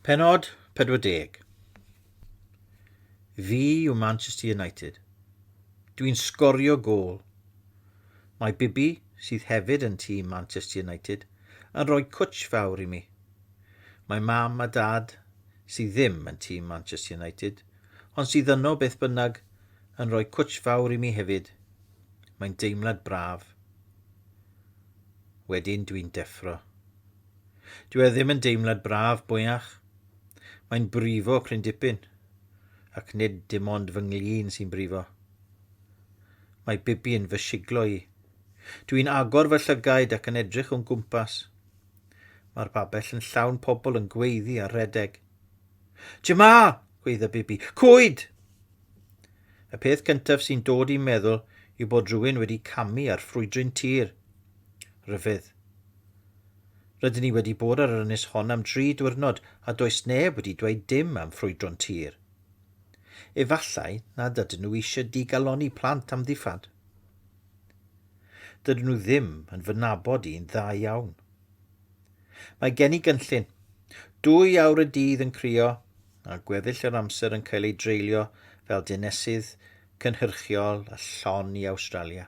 Pennod 40. Fi yw Manchester United. Dw i'n sgorio gôl. Mae Bibi, sydd hefyd yn tîm Manchester United, yn rhoi cwtsh fawr i mi. Mae mam a dad, sydd ddim yn tîm Manchester United, ond sydd yno beth bynnag, yn rhoi cwtsh fawr i mi hefyd. Mae'n deimlad braf. Wedyn dw i'n deffro. Dyw e ddim yn deimlad braf, mwyach. Mae'n brifo prin dipyn. Ac nid dim ond fy nglin sy'n brifo. Mae Bibi yn fy siglo i. Dw i'n agor fy llygaid ac yn edrych o'n gwmpas. Mae'r babell yn llawn pobl yn gweiddi a rhedeg. Jema! gweidda Bibi. Cwyd! Y peth cyntaf sy'n dod i'n meddwl yw bod rhywun wedi camu ar ffrwydryn tir. Rhyfedd. Rydyn ni wedi bod ar yr ynys hon am dri diwrnod a does neb wedi dweud dim am ffrwydro'n tir. Efallai nad ydyn nhw eisiau digalonni plant am ddiffad. Dydyn nhw ddim yn fy nabod i'n dda iawn. Mae gen i gynllun. Dwy awr y dydd yn crio a gweddill yr amser yn cael ei dreulio fel dinesydd cynhyrchiol a llon i Awstralia.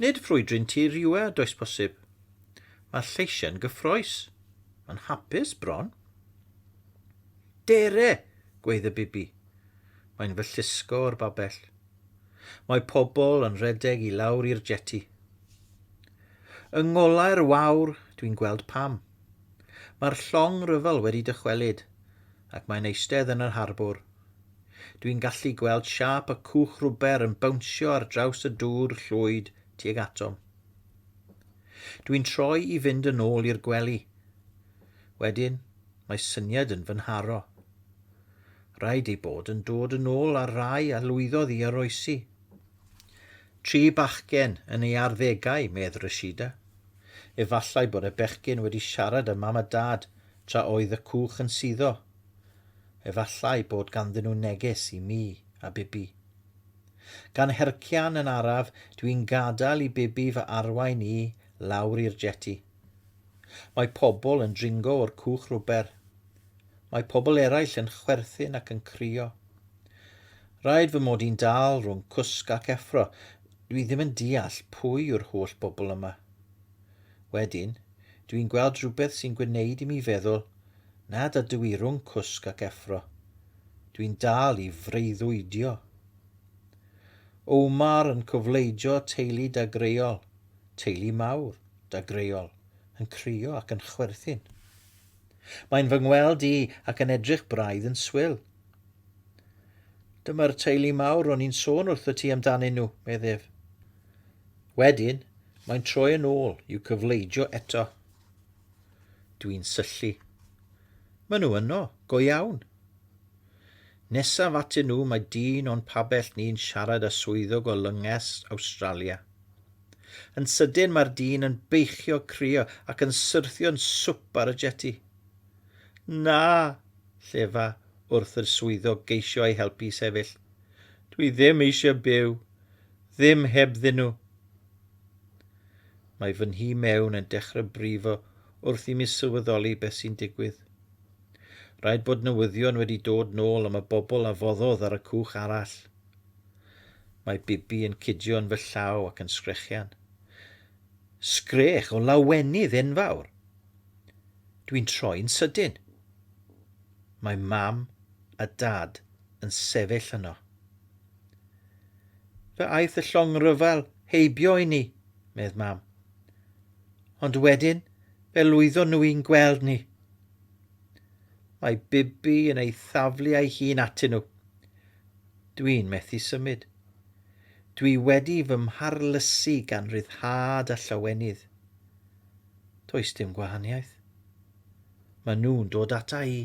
Nid ffrwydrin tir yw e, does posib. Mae lleisiau'n gyffroes. Mae'n hapus, bron. Dere! gweith y bibi. Mae'n fy llusgo o'r babell. Mae pobl yn rhedeg i lawr i'r jeti. Yng ngolau'r wawr, dwi'n gweld pam. Mae'r llong ryfel wedi dychwelyd, ac mae'n eistedd yn yr harbwr, Dwi'n gallu gweld siâp y cwch rwber yn bownsio ar draws y dŵr llwyd tuag atom. Dwi'n troi i fynd yn ôl i'r gwely. Wedyn, mae syniad yn fy nharo. Rhaid ei bod yn dod yn ôl ar rai a lwyddodd i oroesi. Tri bachgen yn ei arddegau, medd Rashida. Efallai bod y bechgyn wedi siarad â mam a dad tra oedd y cwch yn suddo. Efallai bod ganddyn nhw neges i mi a Bibi. Gan hercian yn araf, dw i'n gadael i Bibi fy arwain i lawr i'r jeti. Mae pobl yn dringo o'r cwch rwber. Mae pobl eraill yn chwerthin ac yn crio. Rhaid fy mod i'n dal rhwng cwsg ac effro, dw i ddim yn deall pwy yw'r holl bobl yma. Wedyn, dw i'n gweld rhywbeth sy'n gwneud i mi feddwl nad ydw i rhwng cwsg ac effro. Dw i'n dal i freuddwydio. Omar yn cofleidio teulu dagreuol, teulu mawr, dagreuol, yn crio ac yn chwerthin. Mae'n fy ngweld i ac yn edrych braidd yn swil. Dyma'r teulu mawr ro'n i'n sôn wrtho ti amdanyn nhw, medd ef. Wedyn, mae'n troi yn ôl i'w cyfleidio eto. Dwi'n syllu. Mae nhw yno, go iawn. Nesaf atyn nhw mae dyn o'n pabell ni'n siarad â swyddog o lynges Awstralia. Yn sydyn mae'r dyn yn beichio crio ac yn syrthio'n swp ar y jeti. Na! llefa wrth yr swyddog geisio ei helpu i sefyll. Dwi ddim eisiau byw. Ddim hebddyn nhw! Mae fy nhîm mewn yn dechrau brifo wrth i mi sylweddoli beth sy'n digwydd. Rhaid bod newyddion wedi dod nôl am y bobl a foddodd ar y cwch arall. Mae Bibi yn cydio yn fy llaw ac yn sgrechian. Sgrech o lawenydd enfawr! Dwi'n troi'n sydyn. Mae Mam a Dad yn sefyll yno. Fe aeth y llong rhyfel heibio i ni, medd mam. Ond wedyn, fe lwyddo nhw i'n gweld ni. Mae Bibi yn ei thaflu a'i hun atyn nhw. Dwi'n methu symud. Dwi wedi fy mharlysu gan ryddhad a llawenydd. Does dim gwahaniaeth. Mae nhw'n dod ata i.